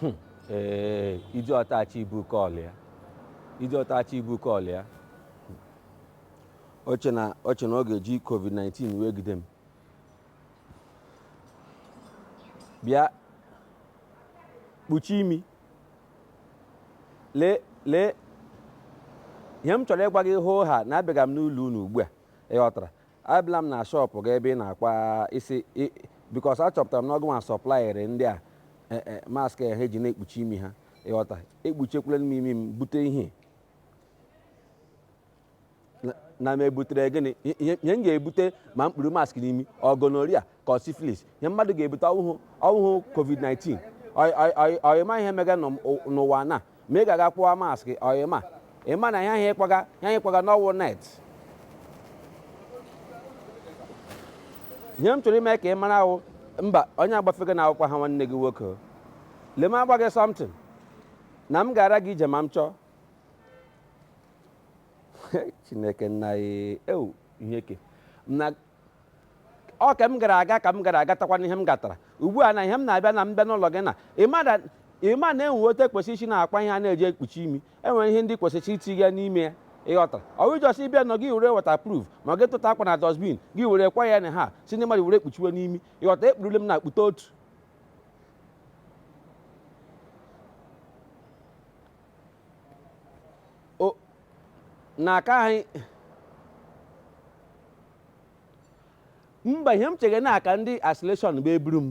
Hmm. ee eh, iji ọtachi ibu kọlụ ya iji ọtachi ibu kọlụ ya o che na o che na ọ ga-eji covid-19 wee gide m bịa kpuchi imi lee lee ihe m chọrọ ịgwa gị hoo ha na abịaga m n'ụlọ unu ugbu a ị ghọtara Abịala m na shop gị ebe ị na-akpa isi because achọpụtara m na ọ gị nwa sọplaịrị ndị a e, e, mask ha eji na-ekpuchi imi ha ị ghọta ekpuchikwula m imi m bute ihe na m ebutere gịnị ihe m ga-ebute ma m kpuru mask n'imi ọ gonorrhea ka ọ syphilis ihe mmadụ ga-ebute ọ wụhụ ọ wụhụ covid-19 Ọ- ọ- ọ- ọyịma ihe mega nọ m- ụ- n'ụwa na m ga-aga kpuwa mask ọyịma ị ma na ihe ahụ ị kwaga ihe ahụ ị kwaga na ọ wụ net ihe m chọrọ ime ka ị mara ahụ mba onye gbafega na-awụkwa ha nwanne gị nwoke o. lee m agwa gị something na m ga-ara gị ije ma m chọọ chineke nna ya ewu ihe ke na ọ ka m gara aga ka m gara agatakwa n'ihe m gatara ugbu a na ihe m na-abịa na mbịa n'ụlọ gị na ị ma na e nwe otu e kwesị isi na-akwa ihe a na-eji ekpuchi imi e nwere ihe ndị kwesịrị itinye n'ime ya ị ghọtara ọ wụ just ịbịa nọ gị were waterproof ma gị tụta akwa na dustbin gị were kwa ya na ha sị ndị mmadụ were kpuchiwe n'imi ị ghọta ekpurule m na akpụta otu na aka anyị mba ihe m chere na ka ndị isolation bịa buru m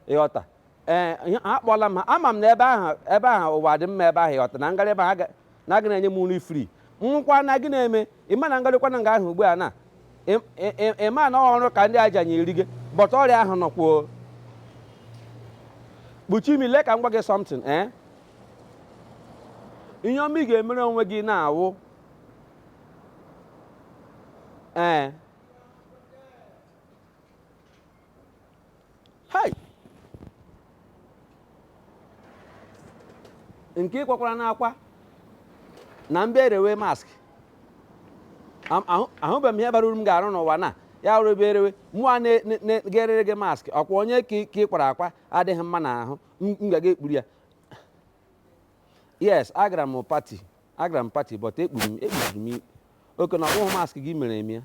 ị ghọta ee akpọla m ha ama m na ebe ahụ ebe ahụ ụwa dị mma ebe ahụ ị ghọta na m garị ebe ahụ na gị na-enye m nri free nwụkwa na gị na-eme ị ma na m garịkwa na nga ahụ ugbu a na ị ma na ọrụ ka ndị aja nyeri gị but ọrịa ahụ nọkwuo kpuchi imi lee ka m gwa gị something ee eh? ihe ọma ị ga-emere onwe gị na-awụ ee hei nke ị kwakwara n'akwa na mbe erewe mask ahụbeghị m ihe bara uru m ga-arụ n'ụwa na ya rụrụ ebe erewe mụa na-egerere gị mask ọkwa onye ka ị kwara akwa adịghị mma n'ahụ m gaga ekpuru ya yes agara m party agara m party but ekpuru m ekpuru m ikpe. okay na ọ bụghị mask gị mere eme ya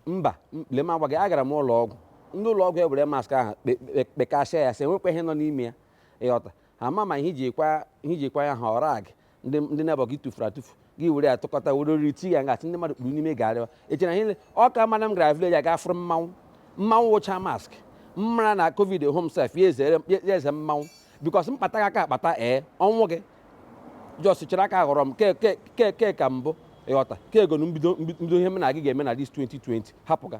mba m- lee m agwa gị agara m ụlọ ọgwụ ndị ụlọ ọgwụ ewere mask ahụ kpe- kpe- kpekasịa ya sị e nwekwa ihe nọ n'ime ya ị ghọta ha ma ma ihe i ji kwa ihe i ji kwa ya ha ọra gị ndị ndị neighbour gị tụfuru atụfu gị were ya tụkọta were oriri ti ya ngasị ndị mmadụ kpuru n'ime garịwa eche na ihe ọ ka mana m gara village aga fụrụ mmanwụ mmanwụ wụcha mask mmara na covid home sef ya ezere ya eze mmanwụ because mkpata gị aka akpata ee ọnwụ gị just chere aka ghọrọ m ke ke ke ke ka mbụ ịghọta ke egonu mbido mbido ihe m na gị ga-eme na this 2020 hapụ ga